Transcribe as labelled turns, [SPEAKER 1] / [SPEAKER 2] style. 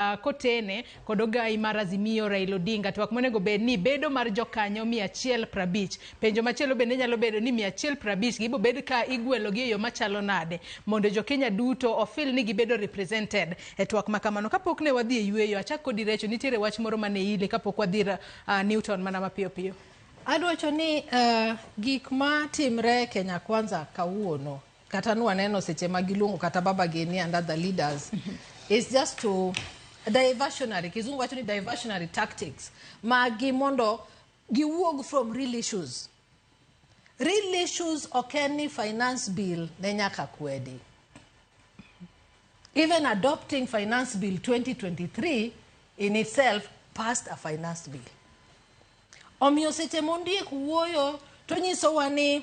[SPEAKER 1] uh, kotene kod ogayi mar Azimio Raila Odinga twak monego bed ni bedo mar jokanyo 150. Penjo machielo bende nyalo bedo ni 150 gibo bed ka igwelogi e yo machalo nade mondo jo Kenya duto ofil ni gibedo represented e twak ma kamano. Kapok ne wadhi e yueyo, achak kodi Recho, nitiere wach moro mane ile kapok wadhi uh, Newton mana mapiyo piyo. Adwacho ni
[SPEAKER 2] uh, gik ma timre Kenya Kwanza kawuono kata nwa neno seche ma giluongo kata baba geni and other leaders is just to diversionary kizungu wacho ni diversionary tactics magi mondo giwuog from real issues real issues ok en ni finance bill ne nyaka kwedi even adopting finance bill 2023 in itself passed a finance bill omiyo seche mondiek wuoyo to nyisowa ni